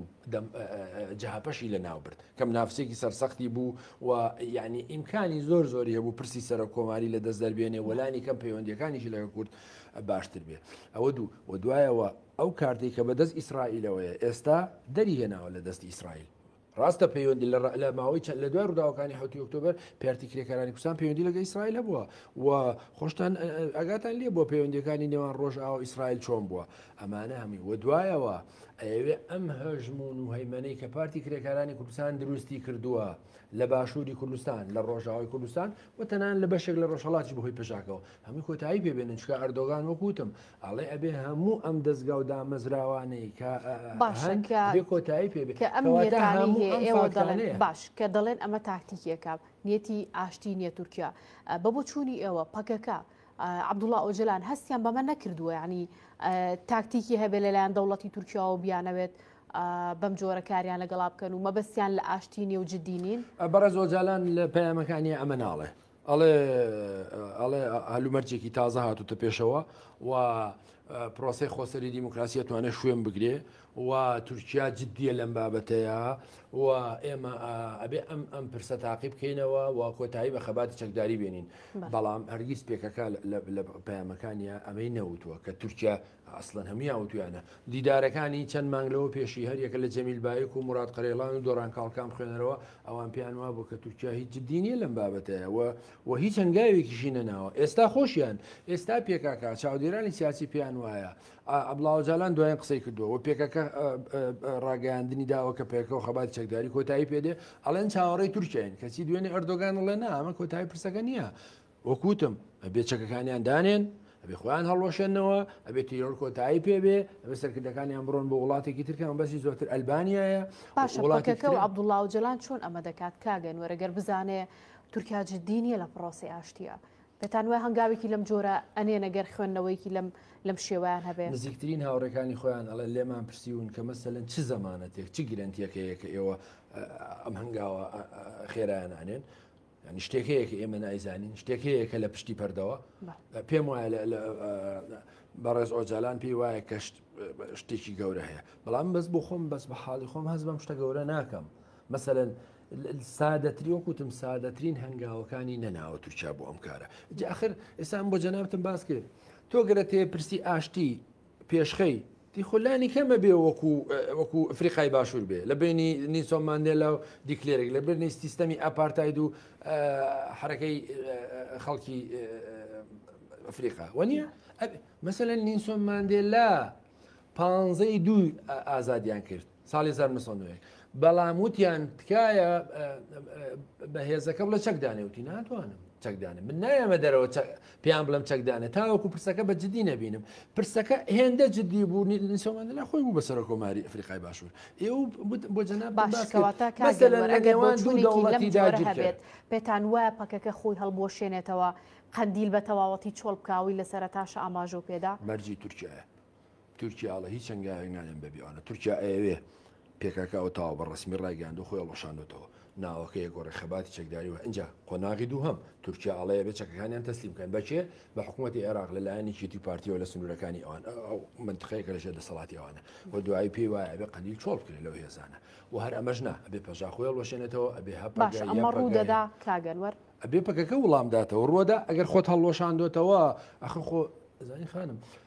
جهپەشی لە ناو برد کەم نافسێکی سەرسەختی بوو و یعنی ئیمکانی زۆر زۆری هەبوو پرسی سەرە کۆماری لە دەست دەربێنێ وەلانی کەم پەیوەندەکانیشی لەگە کورد باشتر بێت ئەوە دوو و دوایەوە ئەو کارتی کە بەدەست ئیسرائیلەوەیە ئێستا دەری هێناوە لە دەست ئیسرائیل ڕاستە پەیوەندی لە ماوەی چەند لە دوای ڕووداوەکانی حوتی ئۆکتۆبر پارتی کرێکارانی کوردستان پەیوەندی لەگە ئیسرائیل هەبووە و خۆشتان ئەگاتان لێ بۆ پەیوەندەکانی نێوان ڕۆژ ئاو ئیسرائیل چۆن بووە ئەمانە هەمووی وە دوایەوە ئەیەوێ ئەم هەژمون و هەیمەەی کە پارتی کرێکارانی کوردستان دروستی کردووە لە باشووری کوردستان لە ڕۆژاوای کوردستان و تەنان لە بەشێک لە ڕۆژهڵاتی بەهۆی پێشاکەەوە هەمووی کۆتایی پێبێنن چکە ئەردۆگان وەکوتم ئەڵێ ئەبێ هەموو ئەم دەستگا و دامەزراوانەی کە کۆتایی پێبێت کە ئەم باش کە دەڵێن ئەمە تاکتیکیەکە نیەتی ئاشتی نیە تورکیا بە بۆ چوونی ئێوە پەکەکە عەبدوڵا ئۆجەلان هەستیان بەمە نەکردووە یعنی تاکتیکی هەبێ لەلایەن دەوڵەتی تورکیاوە بیانەوێت بەم جۆرە کاریان لەگەڵا بکەن و مەبەستیان لە ئاشتی نێو جددینین بەڕێز ئۆجالان لە پەیامەکانی ئەمە ناڵێ ئەڵێ ئەڵێ هەلومەرجێکی تازە هاتوتە پێشەوە و پرۆسی خۆسەری دیموکراسی توانێت شوێن بگرێ و تورکیا جدیە لەم بابەتەیا و ئێمە ئەبێ ئەم ئەم پرسە تاقی بکەینەوە و کۆتایی بە خەباتی چەکداری بێنین بەڵام هەرگیز پێکەکە لە پەیامەکانیا ئەمەی نەوتووە کە تورکیا ئەسڵەن هەمویا وتویانە دیدارەکانی چەند مانگ لەوە پێشی هەریەکە لە جەمیل باەک و مرات قەرێڵان و دۆران کاڵکان خوێنەرەوە ئەوان پێیان وا بوو کە تورکیا هیچ جددی نیە لەم بابەتەیە و و هیچ هەنگاوێکیشی نەناوە ئێستا خۆشیان ئێستا پێکاکە چاودێرانی سیاسی پێیان وایە عەبدوڵا ئۆجالان دوایین قسەی کردووە و پێکەکە ڕاگەیاندنی داوە کە پێکە و خەباتی چەکداری کۆتایی پێدێ ئەڵێن چاوەڕێی تورکیاین کەچی دوێنێ ئەردۆگان ڵێ نا ئەمە کۆتایی پرسەکە نییە وەکوتم ئەبێ چەکەکانیان دانێن ئەبێ خۆیان هەڵوەشێنەوە ئەبێ تیرۆر کۆتایی پێبێ ئەبێ سەرکردەکانیان بڕۆن بۆ وڵاتێکی ترکان بەسی زۆرتر ئەلبانیایە وڵاتەکە و عبدوڵا و جلان چۆن ئەمە دەکات کاگەن وەرەگەر بزانێ تورکیا جددی نیە لە پرۆسی ئاشتیە پێتان وایە هەنگاوێکی لەم جۆرە ئەنێنە گەر خوێندنەوەیەکی لەم لەم شێوەیان هەبێ؟ نزیکترین هاوڕێکانی خۆیان ئەڵێن، لێمان پرسیون کە مەسەلەن چ زەمانەتێک، چ گرەنتییەک هەیە کە ئێوە ئەم هەنگاوە خێرایانە ئەنێن؟ یعنی شتێک هەیە کە ئێمە نایزانین، شتێک هەیە کە لە پشتی پەردەوە پێم وایە بەڕێز ئۆجالان پێی وایە کە شتێکی گەورە هەیە، بەڵام بەس بۆ خۆم بەس بە حاڵی خۆم هەست بەم شتە گەورە ناکەم. مەسەلەن سادەتری وەکوتم سادەترین هەنگاوەکانی نەناوە تورکیا بۆ ئەم کارە جاخر ئێسان بۆ جەنابتم باس کرد تۆ گەرە تێ پرسی ئاشتی پێشخەی دیخۆلانی کەمە بێ وەکو وەکو ئەفریقای باشوور بێ لە بینی نیسۆم ماندێلا و دیکلێرێک لە برنی سیستەمی ئەپارتاید و حرەکەی خەڵکی ئەفریقا وەنیە مەسەن نیسۆم ماندێلا پانزەی دوو ئازادیان کرد ساڵی هەزار و نۆ سەد و نۆ و یەک بەڵام وتیان تکایە بە هێزەکە بڵە چەک دانێوتی ناتوانم چەکدانە من نایەمە دەرەوە پێیان بڵم چەکدانە تاوەکو پرسەکە بە جددی نەبینم پرسەکە هێندە جددی بوو نیسەوەمان لە خۆی بوو بە سەر کۆماری ئەفریقای باشوور ئێ بۆ جەنا باشکەواتە کاگەوانیداگیرێت پێتان وایە پەکەکە خۆی هەڵبوەشێنێتەوە قندیل بە تەواوەتی چۆڵ بکاوی لە سەرتاشە ئاماژە پێدا مەرجی تورکایە تورکیا ئەڵێ هیچ هەنگاوێک نانێن بەبێ ئەوانە تورکیا ئەیەوێ پێکاکا ئەوە تەواو بە ڕەسمی ڕایگەیاندووە خۆی هەڵوەشاندۆتەوە ناوەکە یەکگۆڕێ خەباتی چەکداری وە ئینجا قۆناغی دووهەم تورکیا ئەڵێ ئەبێ چەکەکانیان تەسلیم بکەن بە کێ بە حکوومەتی عێراق لەلایەن یەکێتی و پارتییەوە لە سنوورەکانی ئەوان ئەو منتقەیە کە لەژێر دەسەڵاتی ئەوانە و دوایی پێی وایە ئەبێ قەندیل چۆڵ بکرێت لەو هێزانە و هەر ئەمەش نا ئەبێ پەژاک خۆی هەڵوەشێنێتەوە ئەبێ هەپەگە باشە یا ئەمە ڕوو پەگەیە. دەدا کاگەنوەر ئەبێ پەکەکە وڵام داتەوە ڕووەدا ئەگەر خۆت هەڵوەشاندۆتەوە ئەخ خۆ زانی خانم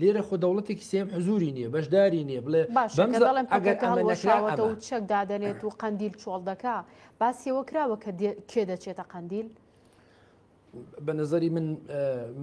لێرە خۆ دەوڵەتێکی سێم حزوری نییە بەشداری نییە بڵێ بەڵێنەکەڵەوەتەوە چەک دادەنێت و قندیل چۆڵ دەکا باسیەوە کراوە کە کێ دەچێتە قندیل بە نظری من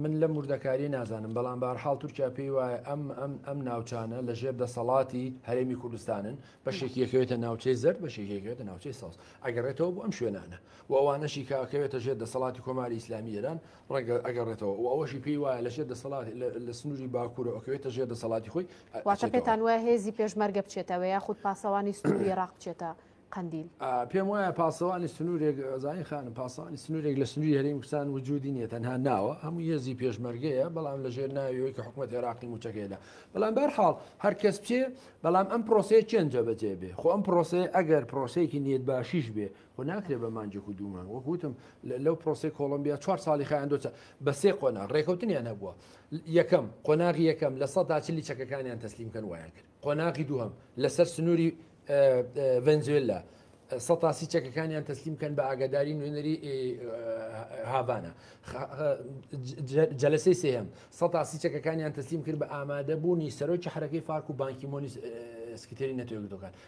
من لە مردەکاری نازانم بەڵام بارحاڵ تورکیا پێی وایە ئەم ئەم ئەم ناوچانە لە ژێر دەسەڵاتی هەرێمی کوردستانن بە شێکیەکەوێتە ناوچەی زەر بە شێکیەکەوێتە ناوچەی ساز ئەگەڕێتەوە بۆ ئەم شوێنانە و ئەوانەشی کاکەوێتە ژێر دەسەڵاتی کۆماری ئیسلامی ئێران ڕەنگە ئەگەڕێتەوە و ئەوەشی پێی وایە لە ژێر دەسەڵات لە سنووری باکوورە ئۆکەوێتە ژێر دەسەڵاتی خۆی واتە پێتان وایە هێزی پێشمەرگە بچێتەوە یاخود پاسەوانی سنووری ڕاق بچێتە قندیل پێم وایە پاسەوانی سنوورێک زانین خانم پاسانی سنوورێک لە سنووری هەریم کوردستان وجودی نیە تەنها ناوە هەموو هێزی پێشمەرگەیە بەڵام لە ژێر ناویەوەی کە حکوومەت عێراقی موچەکەیدا بەڵام بەرحاڵ هەر کەس بچێ بەڵام ئەم پرۆسەیە چێنجە بەجێ بێ خۆ ئەم پرۆسەیە ئەگەر پرۆسەیەکی نیەت باشیش بێ خۆ ناکرێ بە مانگێک و دوو مانگ وەک وتم لەو پرۆسی کۆڵمبیا چوار ساڵی خیان دۆچە بە سێ قۆنا ڕێکەوتنیان هەبووە یەکەم قۆناغی یەکەم لە سەدا چلی چەکەکانیان تەسلیم کەن وایان کرد قۆناغی دووهم لەسەر سنووری ڤنزوێلا سەتاسی چەکەکانیان تەسلیم کەن بە ئاگاداری نوێنەری هاڤانە جەلسی سێهم سەتاسی چەکەکانیان تەسلیم کرد بە ئامادەبوونی سەرۆکی حرەکەی فارک و بانکی مۆنی سکتێری نەتەوەگرتەکان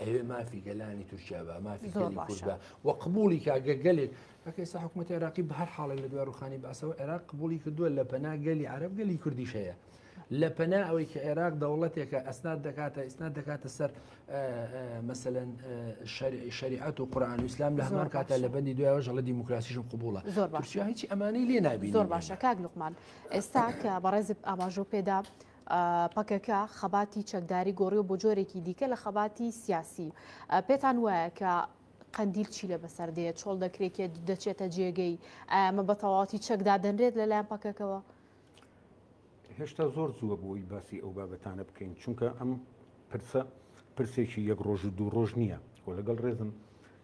ئەوێ مافی گەلانی تورکیا بە مافی کورد بە و قبولی کاگە گەلێک ئەکەسا حکوومەت عراقی بە هەر حاڵێک لە دوای ڕوخانی باسەوە عێراق قبولی کردووە لە پەنا گەلی عرب گەلی کوردیش هەیە. لە پەنا ئەوەی کە عێراق دەوڵەتێکە ئەسنات دەکاتە ئیسنات دەکاتە سەر مەسەەن شریعەت و قورآان وسلام لە هەمان کاتە لە بەندی دوایەوە ژەڵە دیموکراسیشم قوبوڵە زۆر باش هیچ ئەمانی لێ نابی زۆر باشە کاک لوقمان ئێستا کە بەڕێزت ئاماژۆ پێدا پەکەکە خەباتی چەکداری گۆڕیەوە بۆ جۆرێکی دیکە لە خەباتی سیاسی پێتان وایە کە قەندیل چی لە بەسەر دێت چۆڵ دەکرێکێت دەچێتە جێگەی ئەمە بە تەواتی چەکدادەنرێت لەلایەن پەکەکەوە هێشتا زۆر زووە بۆی باسی ئەو بابەتانە بکەین چونکە ئەم پرسە پرسێکی یەک ڕۆژ و دوو ڕۆژ نییە و لەگەڵ ڕێزم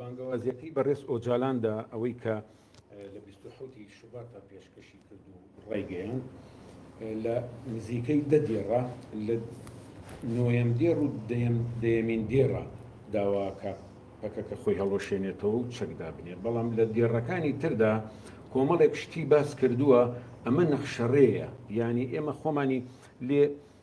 بانگەوازیەکەی بەڕێز ئۆجالان دا ئەوەی کە لە بیست و حەوت ی شوباتا پێشکەشی کرد و ڕایگەیاند لە نزیکەی دە دێڕە لە نۆیەم دێڕ و دەیەم دەیەمین دێڕە داواکە پەکەکە خۆی هەڵوەشێنێتەوە و چەک دابنێت بەڵام لە دێڕەکانی تردا کۆمەڵێک شتی باس کردووە ئەمە نەخشەڕێیە یانی ئێمە خۆمانی لێ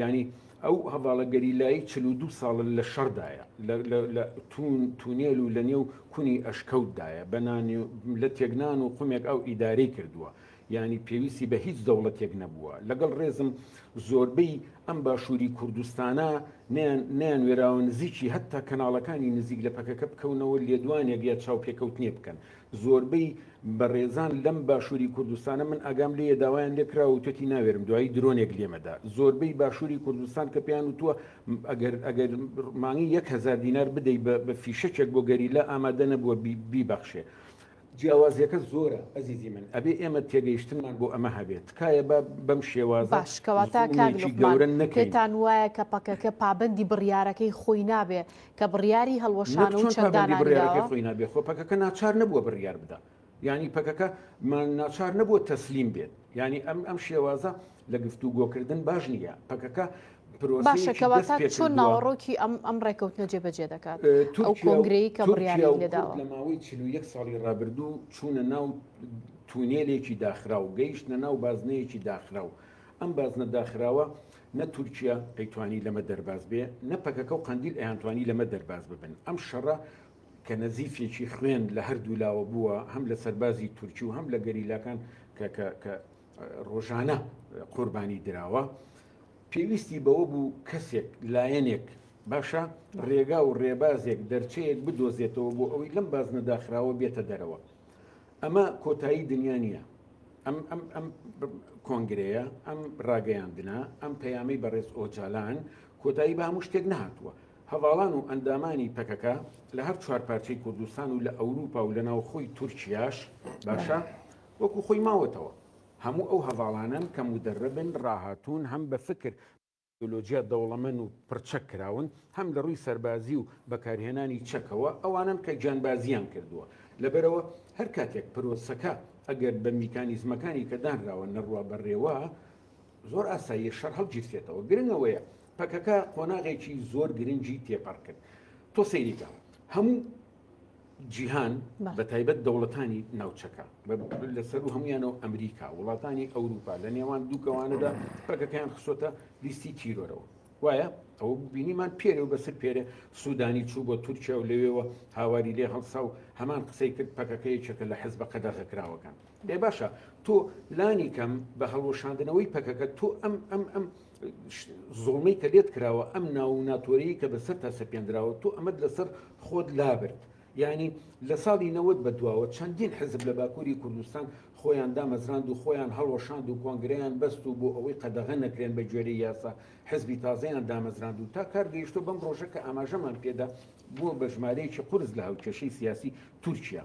یانی ئەو هەڤاڵە گەریلایی چل و دوو ساڵە لە شەڕدایە، لە توون، تونێل و لە نێو کونی ئەشکەوتدایە، بە نان و لەتێک نان و قومێک ئاو ئیدارەی کردووە، یانی پێویستی بە هیچ دەوڵەتێک نەبووە. لەگەڵ رێزم زۆربەی ئەم باشووری کوردستانە نەیان نەیانوێراوە نزیکی هەتا کەناڵەکانی نزیک لە پەکەکە بکەونەوە لێدوانێک یا چاوپێکەوتنێ بکەن، زۆربەی بەڕێزان لەم باشووری کوردستانە من ئاگام لێ داوایان لێکرا و تۆتی ناوێرم دوایی درۆنێک لێمەدا زۆربەی باشووری کوردستان کە پێیان وتووە ئەگەر ئەگەر مانگی 1هزار دینار بدەی بە فیشەکێک بۆ گەری لە ئامادە نەبووە بیبەخشێ. جیاوازیەکە زۆرە ئەزیزی من ئەبێ ئێمە تێگەیشتنمان بۆ ئەمە هەبێت تکایە بە بەم شێواز باشکەواتاکەگەورە نەکەێتان وایە کە پەکەکە پابندی بڕیارەکەی خۆی نابێ کە بڕیاری هەڵوەشان و چەک دانانراوە. خۆ پەکەکە ناچار نەبووە بڕیار بدا. یانی پەکەکە ناچار نەبووە تەسلیم بێت. یانی ئەم ئەم شێوازە لە گفتو گۆکردن باش نییە. پەکەکە باشە کەواتە چۆن ناوەڕۆکی ئەم ئەم ڕێکەوتنە جێبەجێ دەکات ئەو کۆنگرەی کە بڕیاری لێداوە لە ماوەی چ یەک ساڵی ڕابردوو چوونە ناو تونێلێکی داخراو گەیشتە ناو بازنەیەکی داخراو ئەم بازنە داخراوە نە تورکیا ئەیتوانی لەمە دەرباز بێ نە پەکەکە و قەندیل ئەیانتوانی لەمە دەرباز ببن ئەم شەڕە کە نەزیفێکی خوێن لە هەردوو لاوە بووە هەم لە سەربازی تورکی و هەم لە گەریلاکان کە ڕۆژانە قوربانی دراوە پێویستی بەوە بوو کەسێک لایەنێک باشە ڕێگا و ڕێبازێک دەرچەیەک بدۆزێتەوە بۆ ئەوەی لەم بازنە داخراوە بێتە دەرەوە ئەمە کۆتایی دنیا نییە. ئەم ئەم ئەم کۆنگرەیە ئەم ڕاگەیاندنە ئەم پەیامی بەڕێز ئۆجالان کۆتایی بە هەموو شتێک نهاتووە هەواڵان و ئەندامانی پەکەکە لە هەر چوار پارچەی کوردستان و لە ئەوروپا و لە ناوخۆی تورکیاش باشە وەکو خۆی ماوەتەوە هەموو ئەو هەواڵانن کە مدەرەبن ڕاهاتوون هەم بە فکر تەکنەلۆجیا دەوڵەمەن و پڕ چەک کراون، هەم لە ڕووی سەربازی و بەکارهێنانی چەکەوە ئەوانەن کە گیانبازییان کردووە، لەبەرئەوە هەر کاتێک پرۆسەکە ئەگەر بە میکانیزمەکانی کە دانراوە نەڕوا بەڕێوە زۆر ئاساییە شەڕ هەڵگیرسێتەوە، گرنگ ئەوەیە پەکەکە قۆناغێکی زۆر گرنگی تێپەڕ کرد، تۆ سەیری کە هەموو. جیهان بە تایبەت دەوڵەتانی ناوچەکە لەسەر و هەمویانەوە ئەمریکا وڵاتانی ئەوروپا لە نێوان دووکەوانەدا پەکەکەیان خسۆتە لیستی تیرۆرەوە وایە ئەوە بینیمان پێرە و بەسەر پێرە سوودانی چوو بۆ تورکیا و لەوێەوە هاواری لێ هەڵسا و هەمان قسەی کرد پەکەکەی چەکە لە حەز بە قەدەغەکراوەکان بێ باشە تۆ لانی کەم بە هەڵوەشاندنەوەی پەکەکە تۆ ئەم ئەم ئەم زوڵمەی کە لێت کراوە ئەم ناو و ناتۆرەیی کە بەسەر تا سەپێنراوە تۆ ئەمەد لەسەر خۆت لابرد یعنی لە ساڵی نەوەد بە دواوە چەندین حزب لە باکووری کوردستان خۆیان دامەزراند و خۆیان هەڵوەشاند و کۆنگرەیان بەست و بۆ ئەوەی قەدەغە نەکرێن بە گوێرەی یاسا حزبی تازەیان دامەزراند و تا کار گەیشتۆ بەم ڕۆژە کە ئاماژەمان پێدا بووە بە ژمارەیەکی قورس لە هاوکێشەی سیاسی تورکیا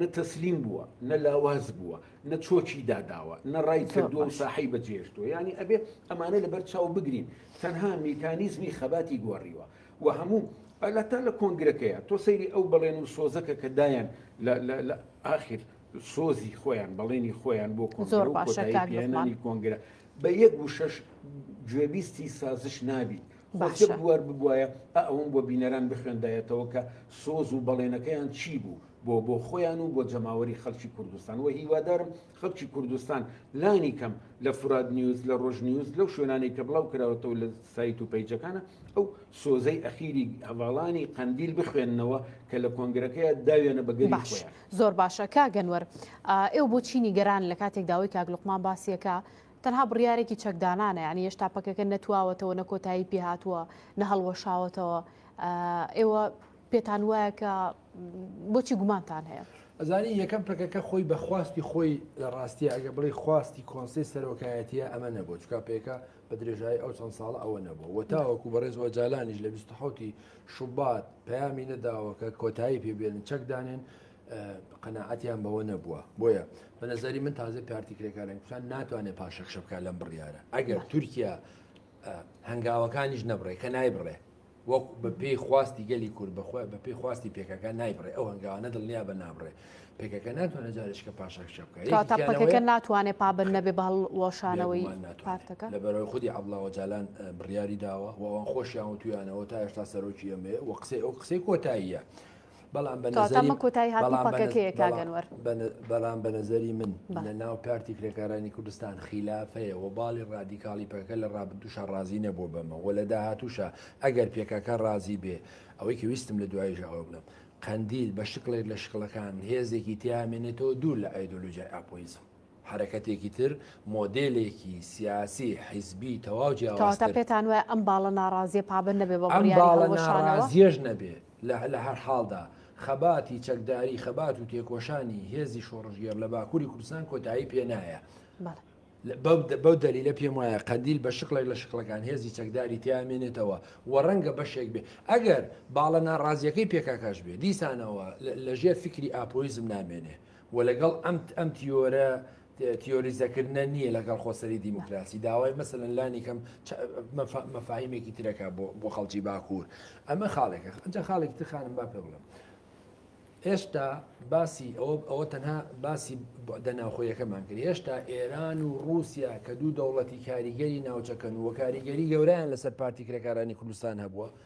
نە تەسلیم بووە، نە لاواز بووە، نە چۆکی داداوە، نە ڕای کردووە و ساحەی بەجێهێشتووە، یانی ئەبێ ئەمانە لەبەر چاو بگرین، تەنها میکانیزمی خەباتی گۆڕیوە و هەموو ئەلا تا لە کۆنگرەکەیە تۆ سەیری ئەو بەڵێن و سۆزەکە کە دایان لە ئاخر سۆزی خۆیان بەڵێنی خۆیان بۆ کۆنگرە و کۆتایی پێنانی کۆنگرە بە یەک وشەش گوێبیستی سازش نابیت باشە بوار ببوایە ئەوم بۆ بینەران بخوێندایەتەوە کە سۆز و بەڵێنەکەیان چی بوو بۆ بۆ خۆیان و بۆ جەماوەری خەلکی کوردستان وە هیوادارم خەلکی کوردستان لانی کەم لە فورات نیوز لە رۆژ نیوز لەو شوێنانەی کە بلاو کراوەتەوە لە سایت و پەیجەکانە ئەو سۆزەی ئەخیری هەڤالانی قەندیل بخوێننەوە کە لە کۆنگرەکەیە داویانە بە گەلی خۆیان. باش زۆر باشە کاک ئەنوەر ئێوە بۆ چی نیگەرانن لە کاتێک داوەی کاک لوقمان باسیەکا تەنها بڕیارێکی چەکدانانە یعنی هێشتا پەکەکە نەتواوەتەوە نە کۆتایی پێهاتووە نە هەڵوەشاوەتەوە ئێوە پێتان وایە کە بۆچی گومانتان هەیە؟ ئەزانی یەکەم پەکەکە خۆی بە خواستی خۆی لە ڕاستیە ئەگە بڵی خواستی کۆنسی سەرۆکایەتیە ئەمە نەبوو چکا پێکە بە درێژایی ئەو چەند ساڵە ئەوە نەبوو وە تاوەکو بەڕێزەوە جالانیش لە 1970 شوبات پەیامی نەداوەکە کۆتایی پێبێن چەکدانێن قەنەعەتیان بەوە نەبووە بۆیە بە نظری من تازە پارتی کرێکارن کوردستان ناتوانێت پاشەکشە بکە لەم بڕیارە ئەگەر تورکیا هەنگاوەکانیش نەبڕێ کە نای بڕێ وەک بە پێی خواستی گەلی کورد بەخۆی بە پێی خواستی پێکەکە نایبڕێ ئەو هەنگاوانە دڵنیا بە نابڕێ پێکەکە ناتوانێت جارشکە پاشەکشە بکەکە ناتوانێت پابن نەبێ بە هەڵوەشانەوەی پارتەکە لە بەرەوەی خودی عبڵاوە جالان بڕیاری داوە وان خۆشیان و تویانەوە تا هێشتا سەرۆکی ئەمێ و قسەی ئەو قسەی کۆتاییە بەڵام بەڵام بە نەزەری من لە ناو کارتی کرێکارانی کوردستان خیلافەیە و باڵی ڕادیکاڵی پەکە لە ڕابدوشە ڕازی نەبوو بەمە و لە داهاتوشە ئەگەر پێکەکە ڕازی بێ ئەوەی کە ویستم لە دواییش ئەوە بڵم قەندیل بە شکڵێک لە شکڵەکان هێزێکی تیامێنێتەوە دوور لە ئایدۆلوجای ئاپۆیزم حرەکەتێکی تر مۆدلێکی سیاسی حیزبی تەواو جیاوازتر پێتان وایە ئەم باڵە ناڕازیە پابند نەبێ بە باڵە ناڕازیەش نەبێ لە هەرحاڵدا، خەباتی چەکداری، خەبات و تێکۆشانی هێزی شۆڕشگێڕ لە باکووری کوردستان کۆتایی پێ نایە. بەو دەلیلە پێم وایە قەندیل بە شکڵێک لە شکڵەکان هێزی چەکداری تیا مێنێتەوە و ڕەنگە بەشێک بێ ئەگەر باڵە ناڕازییەکەی پێکاکاش بێ دیسانەوە لە ژێر فیکری ئاپۆیزم نامێنێ. و لەگەڵ ئەم ئەم تیۆرە تیۆریزەکردنە نییە لەگەڵ خۆسەری دیموکراسی داوای مەسەن لانی کەم مەفاهیمێکی ترەکە بۆ خەڵکی باکوور ئەمە خاڵێکە ئەجا خاڵێک تخانم با پێ بڵم هێشتا باسی ئەوە ئەوە تەنها باسی دەناوخۆیەکەمان کرد هێشتا ئێران و رووسیا کە دوو دەوڵەتی کاریگەری ناوچەکەن و کاریگەری گەورەیان لەسەر پارتی کرێکارانی کوردستان هەبووە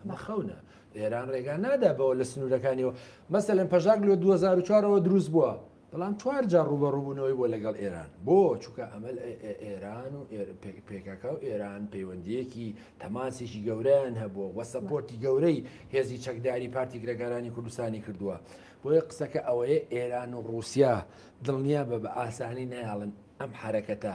ئەمە خەونە ئێران ڕێگا نادا بەوە لە سنوورەکانیەوە مەسەلەن پەژاک لە 2004ەوە دروست بووە بەڵام چوار جار ڕوبە ڕووبوونەوەی بۆ لەگەڵ ئێران بۆ چووکە ئەمەل ئێران و پێکاکە و ئێران پەیوەندیەکی تەماسێکی گەورەیان هەبووە وە سەپۆرتی گەورەی هێزی چەکداری پارتی گرەکارانی کوردستانی کردووە بۆیە قسەکە ئەوەیە ئێران و رووسیا دڵنیا بە بە ئاسانی نایڵن ئەم حرەکەتە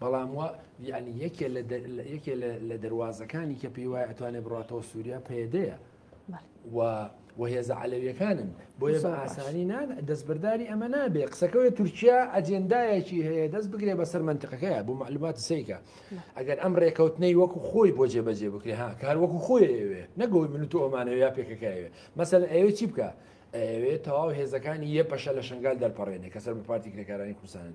بەڵام وا یعنی یەکێ لە دە- لە- یەکێ لە- لە دەروازەکانی کە پێی وایە ئەتوانێت بڕاتەوە سووریا پەیەدەیە بەڵێ. و و هێزە عەلەویەکانن بۆیە بە زۆر باش. ئاسانی نان دەستبەرداری ئەمە نابێ قسەکەوێت تورکیا ئەجێندایەکی هەیە دەست بگرێ بەسەر منتقەکەیە بۆ معلومات سیکە ئەگەر ئەم ڕێکەوتنەی وەکو خۆی بۆ جێبەجێ بکرێ ها کار وەکو خۆیەوێ نەگەوەی من و تۆ ئەمانەوە یا پێکەکەوێ مەسەن ئەوێ چی بکە ئەوێ تەواو هێزەکانی یە پەشە لە شنگال دەرپەڕێنێ کە سەر بە پارتی کرێکارانی کوردستانن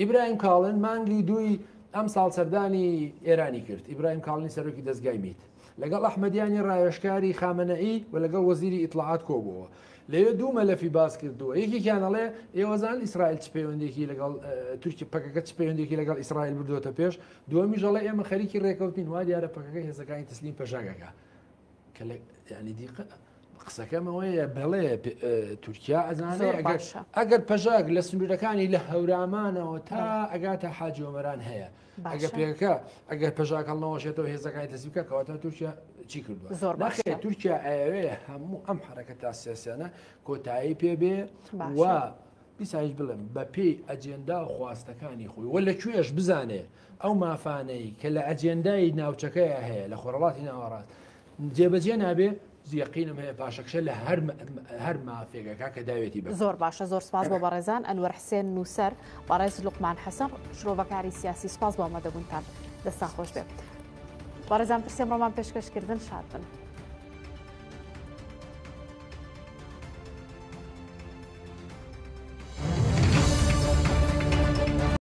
ئیبراهیم کاڵن مانگی دووی ئەمساڵ سەردانی ئێرانی کرد. ئیبراهیم کاڵنی سەرۆکی دەزگای میت لەگەڵ ئەحمەدیانی راوێژکاری خامەنەئی و لەگەڵ وەزیری ئیتڵاعات کۆبووەوە. لەوێ دوو مەلەفی باس کردووە. یەکێکیان ئەڵێ ئێوە زانن ئیسرائیل چ پەیوەندێکی لەگەڵ تورکی پەکەکە چ پەیوەندێکی لەگەڵ ئیسرائیل بردووەتە پێش، دووەمیش ئەڵێ ئێمە خەریکی رێککەوتنین، وا دیارە پەکەکە هێزەکانی تەسلیم پەشەکەکە. قسەکەم ئەوەیە بەڵێ تورکیا ئەزانێ ئەگەر پەژاک لە سنوورەکانی لە هەورامانەوە تا ئەگاتە حاجۆمەران هەیە ئەگە پێەکە ئەگەر پەژاک هەڵنەوەشێتەوە هێزەکانی دەسیکە کەواتە تورکیا چی کردوە زۆر باشێ تورکیا ئەوێ هەموو ئەم حرەکە تا سیاسیانە کۆتایی پێبێ و بیسایش بڵێم بە پێی ئەجێندا و خواستەکانی خۆی وە لە کوێش بزانێ ئەو مافانەی کە لە ئەجێندای ناوچەکەیە هەیە لە خۆرەڵاتی ناوەڕاست جێبەجێ نابێ زیقینم هەیە پاشەکشە لە هەر هەر مافێگەکە کە داوێتی بە زۆر باشە زۆر سپاس بۆ بەڕێزان ئەنوەر حسێن نووسەر بەڕێز لوقمان حەسەن شرۆڤەکاری سیاسی سپاس بۆ ئەمەدەبوونتان دەستان خۆش بێت بەڕێزان پرسێم ڕۆمان پێشکەشکردن شاد بن.